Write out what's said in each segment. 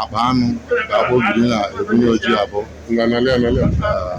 akpa anụ ka Agbogidi na-ebunye Ojiabu na nalịa nalịa Ee.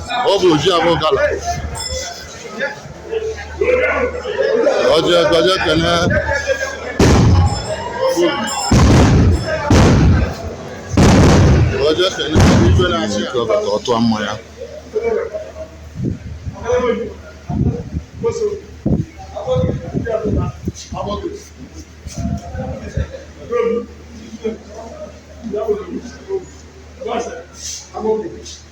ọ bụ Ojiabu Gala ọ je ọ je kene ọ je kene Igwe na-achị ike ọba ka ọ tụọ mmanya Thank you.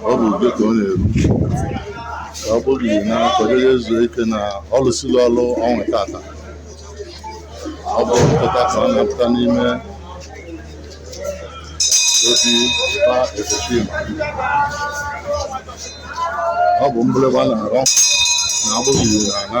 ọ bụ ube ka ọ na-eru ka Agbogidi na-akwadebe ezu ike na ọ lụsịrị ọrụ ọnwa tata ọ bụ mpụta ka ọ na-apụta n'ime obi ba Ezechima ọ bụ mgbịrịgba na-arọ na Agbogidi na-ana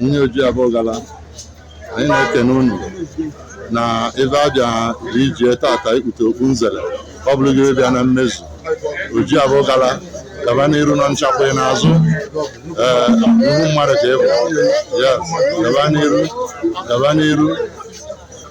nwunye Ojiabu Gala anyị na-ekene unu na ebe a bịa chi ichie tata ikpute okpu nzere ọ bụrụ gị bịa na mmezu Ojiabu Gala gaba n'iru na nchakwa ị n'azụ ee nnukwu mmadụ ka ị bụ yes gaba n'iru gaba n'iru